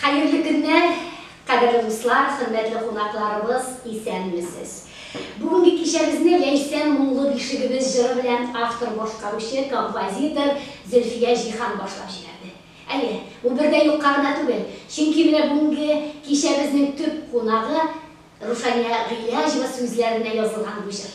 Хәерле көннәр, кадерле дуслар, хөрмәтле кунакларыбыз, исәнмесез! Бүгенге кичәбезне Ләйсән моңлы бишегебез җыры белән автор башкаручы, композитор Зөлфия Җиһан башлап җибәрде. Әйе, бу бер дә юкка гына түгел, чөнки менә бүгенге кичәбезнең төп кунагы Руфания Гыйләҗева сүзләренә язылган бу җыр.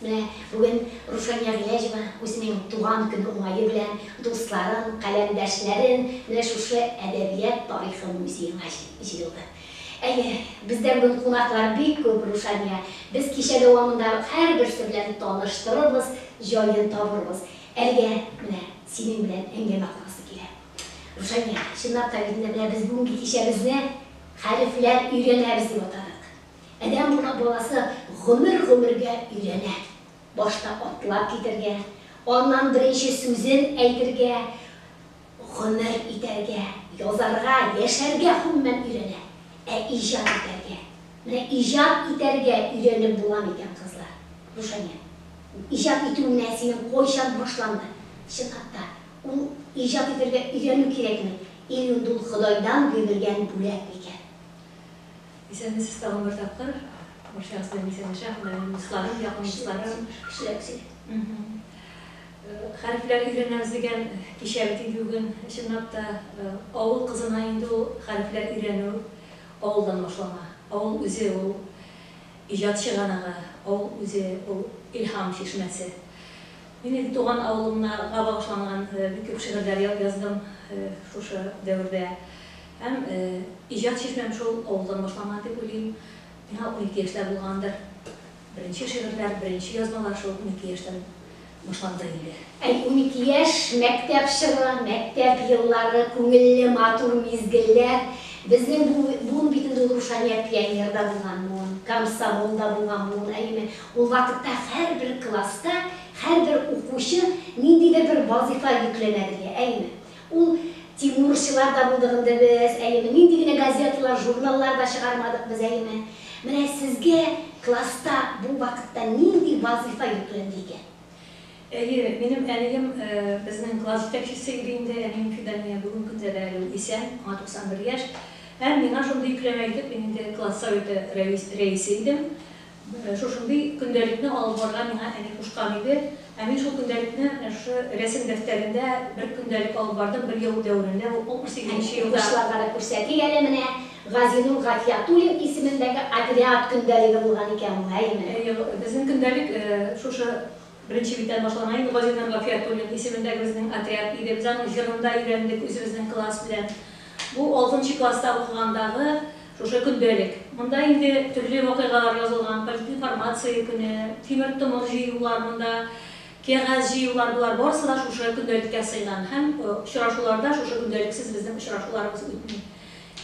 Менә бүген Руфәния Гыйләҗева үзенең туган көн уңае белән дусларын, каләмдәшләрен менә шушы Әдәбият тарихы музеена җыелды. Әйе, бездә бүген кунаклар бик күп, Рушания. Без кичә дәвамында һәрберсе белән таныштырырбыз, җаен табырбыз. Әлегә менә синең белән әңгәмә корасы килә. Рушания, чынлап та бит инде менә без бүгенге кичәбезне Хәрефләр өйрәнәбез дип атадык. Адәм урак баласы гомер-гомергә өйрәнә. Башта атлап китәргә, аннан беренче сүзен әйтергә, гомер итәргә, язарга, яшәргә гомумән өйрәнә. Ә иҗат итәргә, менә иҗат итәргә өйрәнеп була микән, кызлар? Рушания, иҗат итү менә синең кайчан башланды? Чынлап та, ул иҗат итәргә өйрәнү кирәкме, ил инде ул Ходайдан бирелгән бүләк микән? Исәнмесез тагын бер тапкыр. Барчагыз белән исәнләшә, Һөнәрем дусларым, якын дусларым. Хәрефләр өйрәнәбез дигән кичә бит инде бүген. Чынлап та, авыл кызына инде ул хәрефләр өйрәнү авылдан башлана. Авыл үзе ул иҗат чыганагы, авыл үзе ул илһам чишмәсе. Мин инде туган авылымнага багышланган бик күп шигырьләр яздым шушы дәвердә. Һәм иҗат чишмәм шул авылдан башланган дип уйлыйм. Миңа унике яшьтә булгандыр. Беренче шигырьләр, беренче язмалар шул унике яшьтән башланды инде. Әй, унике яшь, мәктәп чоры, мәктәп еллары, күңелле, матур мизгелләр. Безнең бу буын бит инде ул Рушания пионерда булган буын, комсомолда булган буын, әйеме? Ул вакытта һәрбер класста һәрбер укучы ниндидер бер вазыйфа йөкләнә безгә, әйеме? Ул, Тимурчылар да булдык инде без, әйеме, нинди генә газеталар, журналлар да чыгармадык без, әйеме. Менә сезгә класста бу вакытта нинди вазыйфа йөкләнде икән? Әйе, минем әнием безнең класс җитәкчесе иде инде, әнием Фидания, бүген көндә дә әле ул исән, аңа 91 яшь. Һәм миңа шундый йөкләмә итеп, мин инде класс советы рәисе идем. Шушындый көндәлекне алып барырга миңа әни кушкан иде. Ә мин шул көндәлекне менә шушы рәсем дәфтәрендә бер көндәлек алып бардым, бер яу дәверендә, бу 68 нче елда. Укучыларга да күрсәтик әле менә, Газинур Гафиятуллин исемендәге отряд көндәлеге булган икән ул, әйеме? Әйе, безнең көндәлек шушы беренче биттән башлана инде. Газинур Гафиятуллин исемендәге безнең отряд иде. Без аның җырын да өйрәндек үзебезнең класс белән. Бу алтынчы класста укыгандагы. Шушы көндәлек. Монда инде төрле вакыйгалар язылган, политинформация көне, тимер томыр җыюлар, монда кәгазь җыюлар, болар барысы да шушы көндәлеккә сыйган һәм очрашуларда шушы көндәлексез безнең очрашуларыбыз үтми.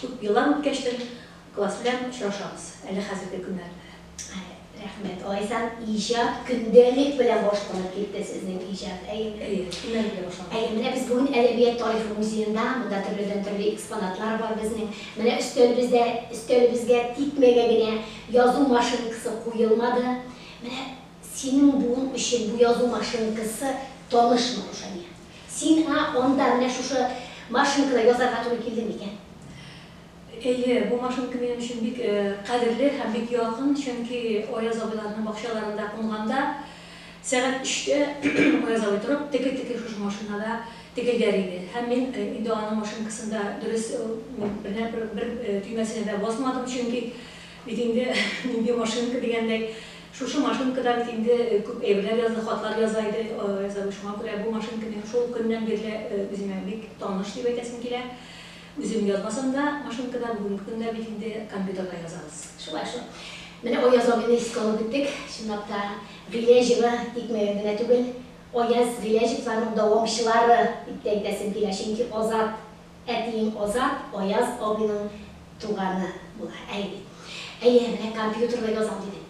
Күп еллар үткәчтен класс белән очрашабыз әле хәзерге көннәрдә. Рәхмәт, Лайсән, иҗат көндәлек белән башланып китте сезнең иҗат, әйеме? Әйе, көндәлек белән башланып китте. Әйе, менә без бүген Әдәбият тарихы музеенда, монда төрледән төрле экспонатлар бар безнең. Менә өстәлебездә, өстәлебезгә тикмәгә генә язу машинкасы куелмады. Менә синең буын өчен бу язу машинкасы танышмы, Рушания? Сиңа анда менә шушы машинкада язарга туры килдеме икән? Әйе, бу машинка минем өчен бик кадерле һәм бик якын, чөнки Аяз абыйларның бакчаларында кунганда, сәгать өчтә Аяз абый торып, теке-теке шушы машинада текелдәр иде. Һәм мин инде аның машинкасында дөрес бер төймәсенә дә басмадым, чөнки бит инде нинди машинка дигәндәй, шушы машинкада бит инде күп әйберләр язды, хатлар яза иде Аяз абый, шуңа күрә бу машинка минем шул көннән бирле үземә бик таныш дип әйтәсем килә. Үзем язмасам да машинкада, бүгенге көндә бит инде компьютерда язабыз. Шулай шул. Менә Аяз абыйны искә алып үттек. Чынлап та, Гыйләҗева икмәген генә түгел, Аяз Гыйләҗевларның дәвамчылары дип тә әйтәсем килә, чөнки Азат, әтиең Азат, Аяз абыйның туганы була. Әйе. Әйе, менә компьютерда язам дидем.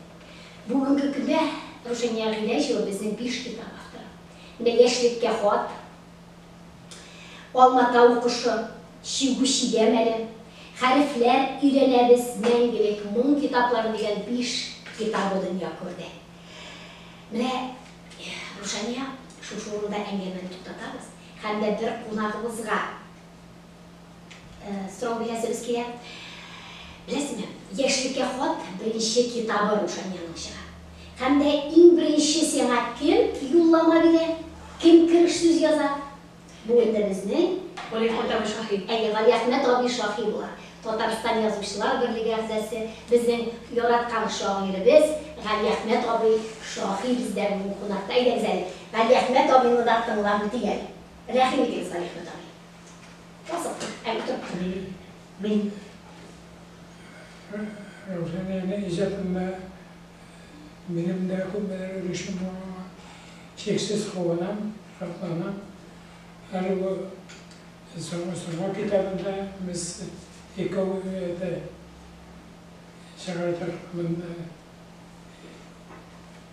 Бүгенге көндә Рушания Гыйләҗева безнең биш китап авторы. Менә Яшьлеккә хат. Алма-тау кошы, чигү чигәм әле, Хәрефләр өйрәнәбез, Мәңгелек моң китаплары дигән биш китабы дөнья күрде. Менә, Рушания, шушы урында әңгәмәне туктатабыз һәм дә бер кунагыбызга, Э, сорау бирәсебез килә. Беләсезме, яшьлеккә хат беренче китабы Рушаниянең чыга. Һәм дә иң беренче сиңа кем юллама бирә, кем кереш сүз яза? Бу инде безнең Галиәхмәт абый Шаһи. Әйе, Галиәхмәт абый Шаһи була. Татарстан Язучылар берлеге әгъзасы, безнең яраткан шагыйребез Галиәхмәт абый Шаһи бездә бүген кунакта. Әйдәгез әле, Галиәхмәт абыйны да тыңлап үтик әле. Рәхим итегез, Галиәхмәт абый. Кызык, әле тот. Мин Рушаниянең иҗатында минем дә күпмедер өлешем бар, аңа чиксез куанам, шатланам. Әле бу Сорнак китабында без икәү әтә чыгардык монда.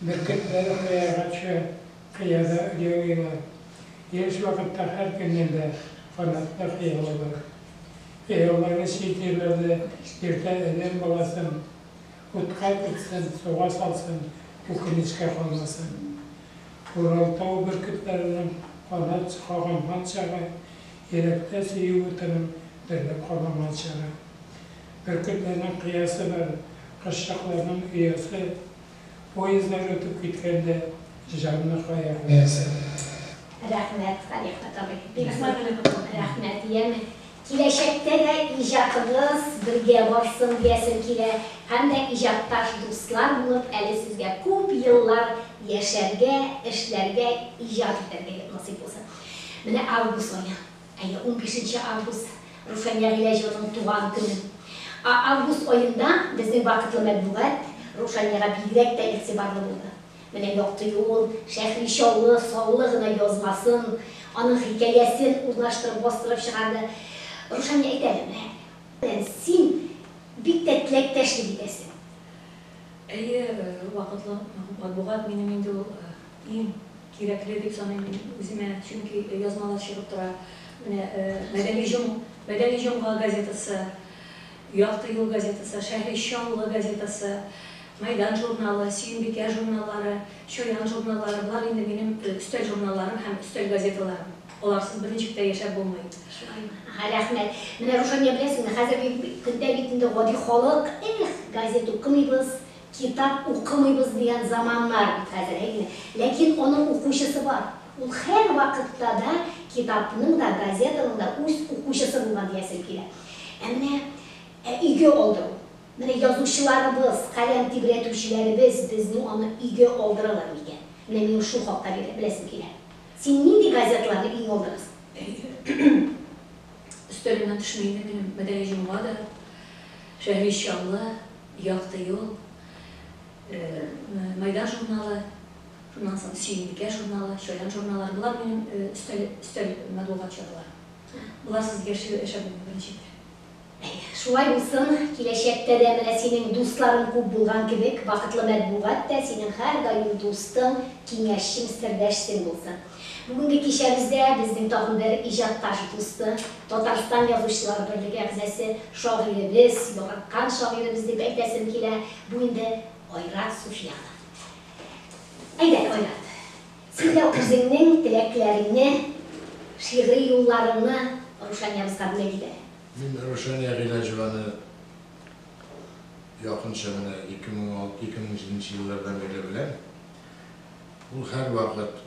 Бөркетләр кыяйгачы кыяда оялыйлар. Еш вакытта һәр көннән дә канатлы кыялыйлар. Кыяуларны чит җирләрдә йөртә адәм баласын, утка тотсын, суга салсын, үкенечкә калмасын. Уралтау бөркетләренең канат кагынган чагы, йөрәктә сөю утының дөрләп кабынган чагы. Бөркетләрнең кыясы бар, кошчыкларның оясы. Поездлар үтеп киткәндә җанны кая куясың? Рәхмәт, Салих Татабый. Бик мәгълүм рәхмәт. Яме киләчәктә дә иҗатыгыз бергә барсын диясем килә һәм дә иҗатташ дуслар булып әле сезгә күп еллар яшәргә, эшләргә, иҗат итәргә насыйп булсын. Менә август ае. Әйе, унбишенче август, Рушания Гыйләҗеваның туган көне. Ә август аенда безнең вакытлы мәтбугат Рушаниягә бигрәк тә игътибарлы булды. Менә Якты юл, Шәхри Чаллы, Саллы гына язмасын, аның хикәясен урнаштырып бастырып чыгарды. Рушания әйтә әле, менә, белән син бик тә теләктәшлек итәсең. Әйе, вакытлы матбугат минем инде ул иң. Кирәкле дип саныйм мин үземә, чөнки язмалар чыгып тора. Менә Мәдәни җом, Мәдәни җомга газетасы, Якты юл газетасы, Шәһрища авылы газетасы, Мәйдан журналы, Сөембикә журналлары, Чаян журналлары, болар инде минем өстәл журналларым һәм өстәл газеталарым. Аларсыз бер ничек тә яшәп булмый. Шулаймы? Рәхмәт. Менә, Рушания, беләсеңме, хәзерге көндә бит инде гади халык, эх, газета укымыйбыз, Китап укымыйбыз дигән заманнар бит хәзер, әйеме? Ләкин аның укучысы бар. Ул һәрвакытта да китапның да, газетаның да үз укучысы булган диясем килә. Ә менә ә өйгә алдыру? Менә язучыларыбыз, каләм тибрәтүчеләребез безнең аны өйгә алдыралар микән? Менә минем шул хакта беләсем килә. Син нинди газеталарны өеңә алдырасың? Өстәлемнән төшмәенә генә Мәдәни җомга да, Шәһри чаллы, Якты юл, Майдан журналы, шуннан соң Сөембикә журналы, Чаян журналлары, болар минем өстәл, өстәл матбугат чараларым. Боларсыз яши, яшәп булмый, беренчедән. Әйе, шулай булсын, киләчәктә дә менә синең дусларың күп булган кебек, бакытлы матбугат та синең һәрдаим дустың, киңәшчең, сердәшсең булсын. Бүгенге кичәбездә безнең тагын бер иҗатташ дусты, Татарстан Язучылар берлеге әгъзасы, шагыйребез, яраткан шагыйребез дип әйтәсем килә, бу инде Айрат Суфиянов. Әйдә, Айрат, син дә үзеңнең теләкләреңне, шигъри юлларыңны Рушаниябезгә бүләк ит әле. Мин Рушания Гыйләҗеваны якынча менә 2006-2007 нче еллардан бирле беләм. Ул һәрвакыт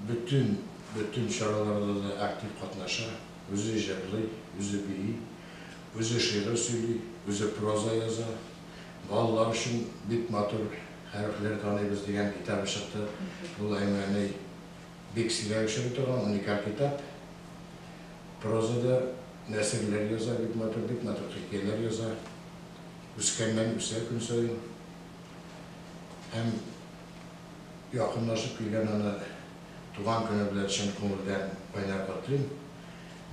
бөтен бөтен чараларда да актив катнаша, үзе җырлый, үзе бии, үзе шигырь сөйли, үзе проза яза. Балалар өчен Бик матур хәрефләр таныйбыз дигән китабы чыкты. Ул Әймәни бик сирәк очрый торган уникаль китап. Прозада нәсерләр яза, бик матур, бик матур хикәяләр яза. Үскәннән үсә көн саен. Һәм якынлашып килгән аны туган көне белән чын күңелдән кайнар котлыйм.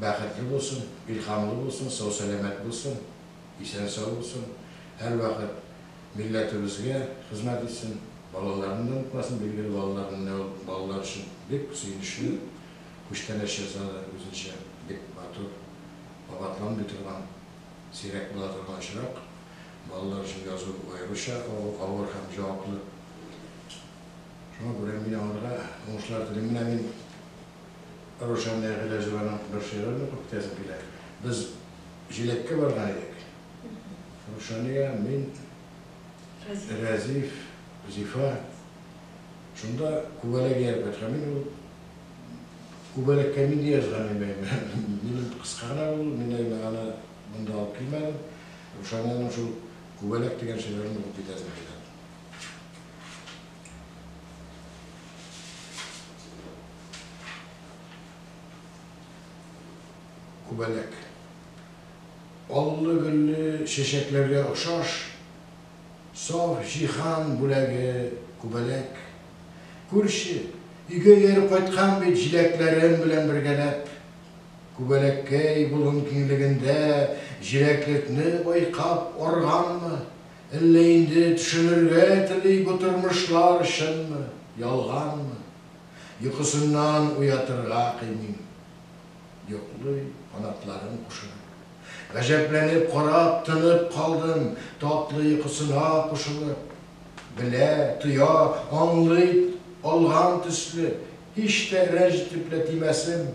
Бәхетле булсын, илһамлы булсын, сау-сәламәт булсын, исән-сау булсын, һәрвакыт милләтебезгә хезмәт итсен, балаларын да онытмасын, билгеле, балалар менә ул балалар өчен бик сөенечле күчтәнәч ясады, үзенчә бик матур, кабатланмый торган, сирәк була торган очрак. Балалар өчен язу аеруча авыр һәм җаваплы. Шуңа күрә мин аңарга уңышлар телим. Менә мин Рушания Гыйләҗеваның бер шигырен укып китәсем килә. Без җиләккә барган идек. Рушания, мин, Рәзиф, Зифа. Шунда күбәләк ияреп кайткан. Мин ул күбәләккә нинди язган имәйме? Минем кыска гына ул, мин әйме аны. Монда алып килмәдем. Рушаниянең шул күбәләк дигән шигырен укып китәсем килә. Күбәләк. Аллы-гөлле чәчәкләргә охшаш, саф җиһан бүләге күбәләк. Күрче, өйгә ияреп кайткан бит җиләкләрем белән бергәләп. Күбәләккәй болын киңлегендә җиләклекне байкап арганмы, әллә инде төшенергә тели бу тормышлар чынмы, ялганмы? Йокысыннан уятырга кыймыйм. Йоклый, канатларын кушырып. Гаҗәпләнеп карап, тынып калдым, татлы йокысына кушылып. Белә, тоя, аңлый алган төсле, Һич тә рәнҗ итеп лә тимәсен.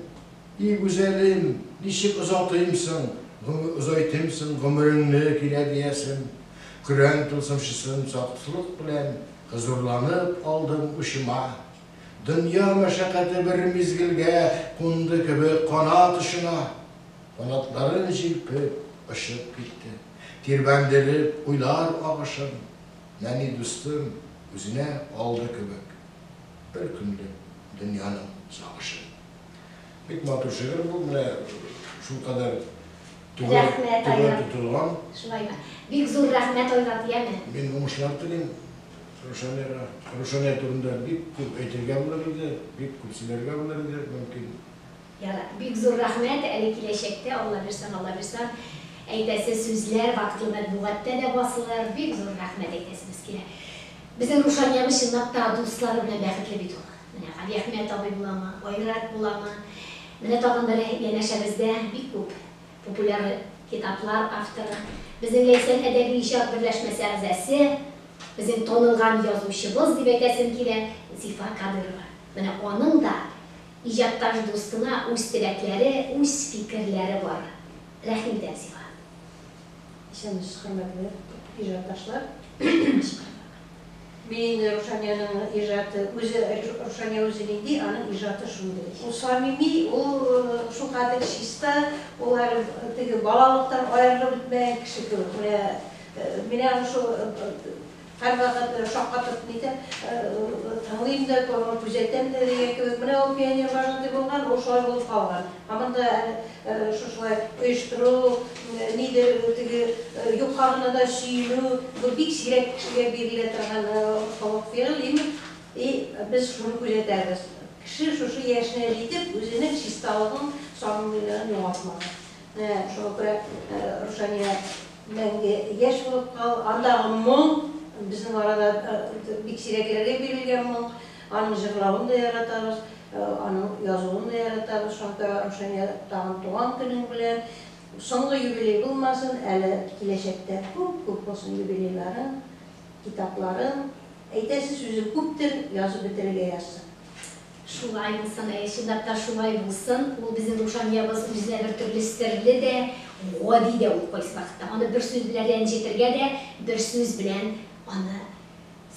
И гүзәлем, ничек озатыйм соң, гомер озайтыйм соң гомереңне, килә диясем. Көрән тылсымчысын саксылык белән хозурланып алдым учыма. Дөнья мәшәкате бер мизгелгә кунды кебек канат очына. Канатларын җилпеп, очып китте. Тирбәндереп, уйлар агышын, нәни дустым, үзенә алды кебек. Бер көнлек дөньяның сагышы. Бик матур шигырь бу, менә шулкадәр түбән тотылган. Шулаймы? Бик зур рәхмәт Айрат, яме. Мин уңышлар телим Рушаняга. Рушания турында бик күп әйтергә булыр иде, бик күп сөйләргә булыр иде, мөмкин. Ярар, бик зур рәхмәт, әле киләчәктә, Аллабирсаң, Аллабирсаң, әйтәсе сүзләр вакытлы матбугатта да басылыр, бик зур рәхмәт әйтәсебез килә. Безнең Рушаниябез чынлап та дуслары белән бәхетле бит ул. Менә Галиәхмәт абый буламы, Айрат буламы, менә тагын бер янәшәбездә бик күп популяр китаплар авторы, безнең Ләйсән әдәби иҗат берләшмәсе әгъзасе, безнең танылган язучыбыз дип әйтәсем килә, Зифа Кадырова. Менә аның да Иҗатташ дустыңа үз теләкләре, үз фикерләре бар. Рәхим итәм сиңа. Исәнмесез, хөрмәтле иҗатташлар! Кычкырдык. Мин инде Рушаниянең иҗаты, үзе, Рушания үзе нинди, аның иҗаты шундый. Ул самими, ул шулкадәр чиста, ул әле теге балалыктан аерылып бетмәгән кеше кебек. Менә, менә шул, Һәрвакыт шаккатып нитәм, тыңлыйм да, күзәтәм дә дигән кебек. Менә ул пионер вожатый булган, ул шулай булып калган. Һаман да әле шушылай оештыру, нидер теге юкка гына да сөенү, бу бик сирәк кешегә бирелә торган холык-фигыль имин. И без шуны күзәтәбез. Кеше шушы яшенә җитеп, үзенең чисталыгын, сафлыгын югалтмаган. Менә шуңа күрә Рушания Мәңге яшь булып кал! Андагы моң, безнең арада бик сирәкләргә бирелгән моң. Аның җырлавын да яратабыз, аның язуын да яратабыз. Шакир ага, Рушания, тагын туган көнең белән! Соңгы юбилей булмасын, әле киләчәктә күп-күп булсын юбилейларың, китапларың. Әйтәсе сүзең күптер, язып бетерергә язсын. Шулай булсын, әйе, чынлап та шулай булсын. Ул безнең Рушаниябыз үзенә бер төрле серле дә, гади дә ул кайсы вакытта. Аны бер сүз белән рәнҗетергә дә, бер сүз белән аны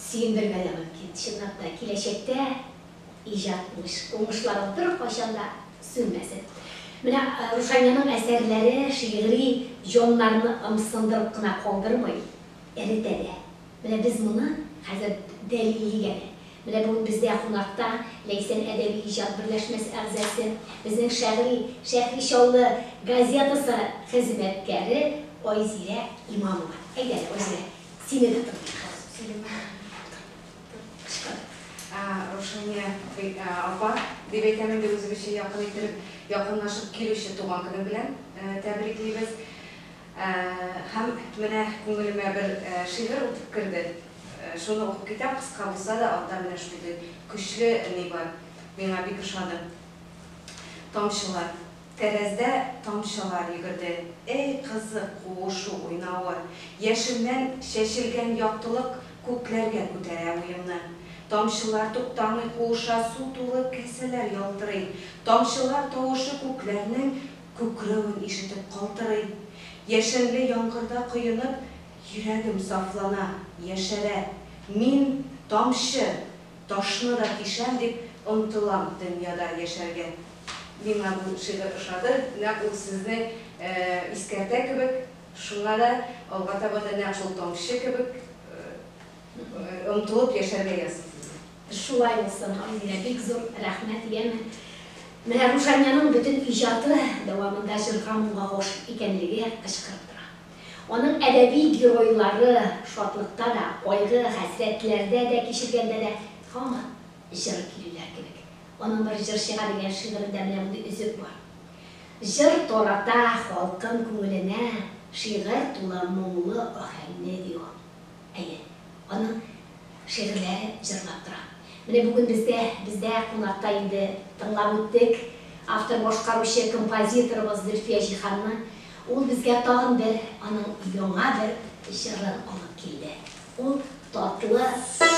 сөендергә дә мөмкин. Чынлап та, киләчәктә иҗат уңышларың беркайчан да сүнмәсен. Менә Рушаниянең әсәрләре шигъри җаннарны ымсындырып кына калдырмый, эретә дә. Менә без моны хәзер дәлиллик әле. Менә бүген бездә кунакта Ләйсән әдәби-иҗат берләшмәсе әгъзасы, безнең Шәгъри Шәһри Чаллы газетасы хезмәткәре Айзирә Имамова. Әйдә әле, Айзирә, сине дә тыңлыйк хәзер. Сәләмә Кычкыр. Раушания апа, дип әйтәм инде үзебезчә якын иттереп, якынлашып килүче туган көне белән тәбриклибез. Һәм менә күңелемә бер шигырь үтеп керде. Шуны укып китәм, кыска булса да, анда менә шундый көчле ни бар. Миңа бик ошады. Тамчылар. Тәрәздә тамчылар йөгерде. Әй, кызык, куышу, уйнавы. Яшеннән чәчелгән яктылык күкләргә күтәрә уемны. Тамчылар туктамый куыша, су тулы касәләр ялтырый. Тамчылар тавышы күкләрнең Күкрәвен ишетеп калтырыйм. Яшенле яңгырда коенып, Йөрәгем сафлана, яшәрә. Мин, тамчы, ташны да тишәм, Дип омтылам дөньяда яшәргә. Миңа бу шигырь ошады, нәкъ ул сезне искәртә кебек, шуңа да алга таба да нәкъ шул тамчы кебек омтылып яшәргә язсын сезгә. Шулай булсын, Айзилә, бик зур рәхмәт, яме. Менә Рушаняның бөтен иҗаты дәвамында җырга моңга гашыйк икәнлеге кычкырып тора. Аның әдәби геройлары шатлыкта да, кайгы, хәсрәтләрдә дә, кичергәндә дә һаман җыр көйлиләр кебек. Аның бер җырчыга дигән шигырендә менә мондый өзек бар. Җыр тарата халкым күңеленә, шигырь тулы моңлы аһәңне, ди ул. Әйе, аның шигырьләре җырлап тора. Менә бүген бездә, бездә кунакта инде тыңлап үттек, автор-башкаручы, композиторыбыз Зөлфия Җиһанны. Ул безгә тагын бер, аның яңа бер җырын алып килде. Ул татлы.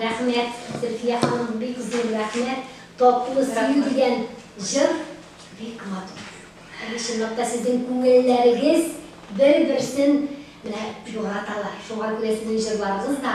Рәхмәт, Зөлфия ханым, бик зур рәхмәт. Татлы сөю дигән җыр бик матур. Әйе, чынлап та сезнең күңелләрегез бер-берсен менә яраталар. Шуңа күрә сезнең җырларыгыз да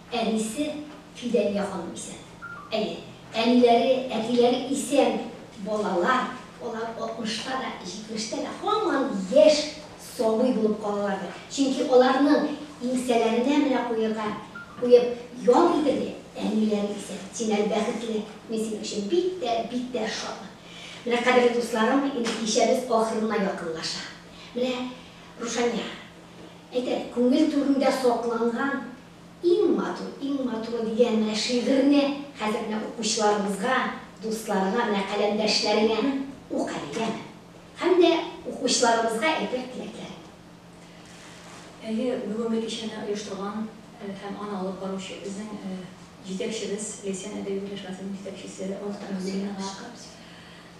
Әнисе Фидания ханым исән. Әйе, әниләре, әтиләре исән балалар, алар 60 та да, 70 тә дә һаман яшь сабый булып калалардыр. Чөнки аларның иңсәләренә менә куерга куеп ял итергә әниләре исән. Син әле бәхетле, мин синең өчен бик тә, бик тә шатмын. Менә, кадерле дусларым, инде кичәбез ахырына якынлаша. Менә, Рушания, әйтәм, күңел түрендә сакланган, Иң матур, иң матуры дигән менә шигырьне хәзер менә укучыларыбызга, дусларга, менә каләмдәшләреңә ук әле, яме. Һәм дә укучыларыбызга әйтер теләкләрең. Әйе, бүгенге кичәне оештырган һәм аны алып баручы безнең җитәкчебез, Ләйсән әдәби берләшмәсенең җитәкчесе Мохтар Нуруллинага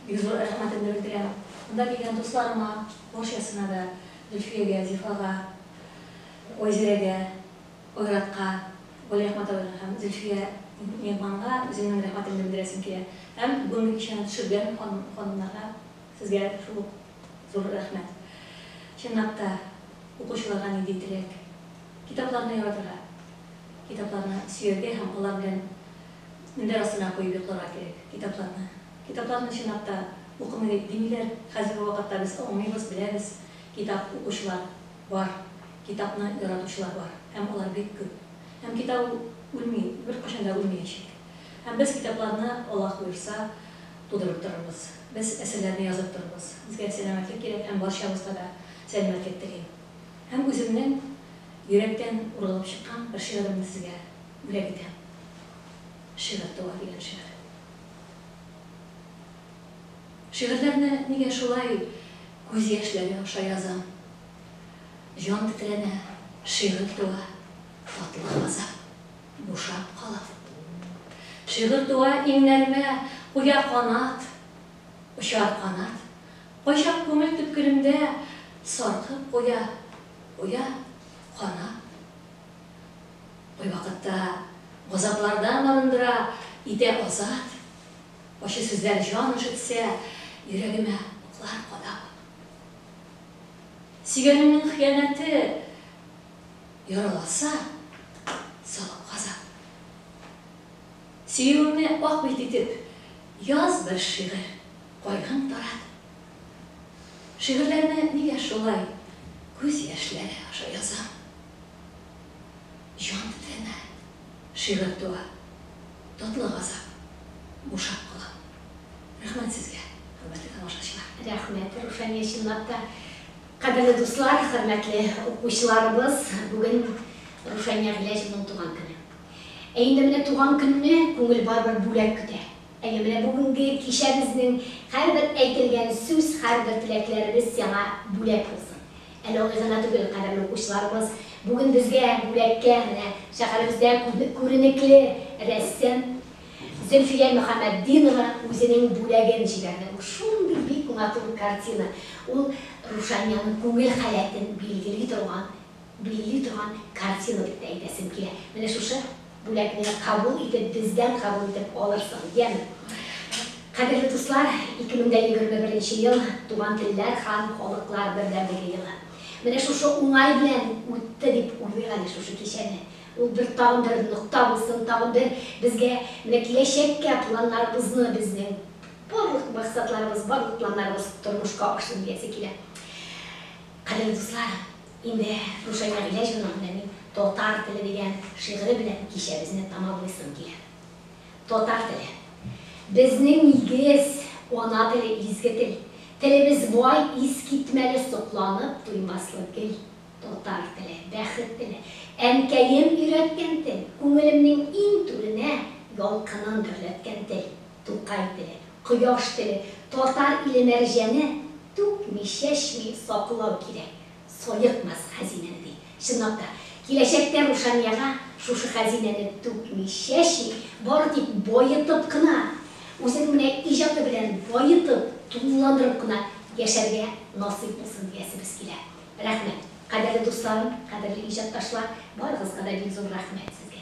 бик зур рәхмәтемне белдерәм. Монда килгән дусларыма, барчасына да, Зөлфиягә, Зифага, Гөлзирәгә, Айратка, Вәлирәхмәт абыйга һәм Зөлфия миһманга үземнең рәхмәтемне белдерәсем килә. Һәм бүген кичәне төшергән ханым-ханымнарга сезгә шул ук зур рәхмәт. Чынлап та, укучыларга нинди теләк? Китапларны яратырга, китапларны сөяргә һәм алар белән мендәр астына куеп йокларга кирәк китапларны. Китапларны чынлап та укымый димиләр. Хәзерге вакытта без аңлыйбыз, беләбез, китап укучылар. Бар. Китапны яратучылар бар. Һәм алар бик күп. Һәм китап ул үлми, беркайчан да үлмиячәк. Һәм без китапларны, Аллаһ боерса, тудырып торырбыз. Без әсәрләрне язып торырбыз. Безгә сәламәтлек кирәк һәм барчабызга да сәламәтлек телим. Һәм үземнең йөрәктән ургылып чыккан бер шигыремне сезгә бүләк итәм. Шигырь туа дигән шигырь. Шигырьләрне нигә шулай күз яшьләре аша язам? Җан тетрәнә, шигырь туа, татлы газап бушап кала. Шигырь туа, иңнәремә куя канат, очар канат, кайчак күңел төпкелемдә саркып куя, куя, кана. Кайвакытта газаплардан арындыра, итә азат. Ачы сүзләр җан өшетсә, йөрәгемә уклар кадап. Сөйгәнеңнең хыянәте яраласа, салып газап. Сөюеңне ак бит итеп, яз бер шигырь, кайгың тарат. Шигырьләрне нигә шулай күз яшьләре аша язам? Җан тетрәмә, Шигырь туа, татлы газап бушап кала. Рәхмәт сезгә, хөрмәтле тамашачылар! Рәхмәт, Рушания, чынлап та. Кадерле дуслар, хөрмәтле укучыларыбыз, бүген Рушания Гыйләҗевның туган көне. Ә инде менә туган көнне күңел барыбер бүләк көтә. Әйе, менә бүгенге кичәбезнең һәрбер әйтелгән сүз, һәрбер теләкләребез сиңа бүләк булсын. Әле алай гына түгел, кадерле укучыларыбыз, бүген безгә бүләккә менә шәһәребездә күренекле рәссам Зөлфия Мөхәммәтдинова үзенең бүләген җибәрде. Бу шундый бик матур картина, ул Рушаниянең күңел халәтен билгели торган, билли торган картина дип тә әйтәсем килә. Менә шушы Бүләкне кабул итеп, бездән кабул итеп алырсың, яме. Кадерле дуслар, 2021 нче ел, Туган телләр һәм халыклар бердәмлеге елы. Менә шушы уңай белән үтте дип уйлыйк әле шушы кичәне. Ул бер тагын бер нокта булсын, тагын бер безгә менә киләчәккә планнарыбызны, безнең барлык максатларыбыз, барлык планнарыбыз тормышка ашсын диясе килә. Кадерле дуслар! Инде Рушания Гыйләҗ улының белән мин Татар теле дигән шигыре белән кичәбезне тәмамлыйсым килә. Татар теле. Безнең нигез, ана теле, изге тел. Телебез бай, искитмәле, сокланып туймаслык гел. Татар теле, бәхет теле. Әнкәем өйрәткән тел, күңелемнең иң түренә ялкынын гөрләткән тел. Тукай теле, кояш теле, татар иле мәрҗәне, түкми, чәчми саклау кирәк, саекмас хәзинәне, ди. Чынлап та, киләчәктә Рушанияга шушы хәзинәне түкми, чәчми, бары тик баетып кына, үзенең менә иҗаты белән баетып, тулыландырып кына яшәргә насыйп булсын диясебез килә. Рәхмәт! Кадерле дусларым, кадерле иҗатташлар, барыгызга да бик зур рәхмәт сезгә!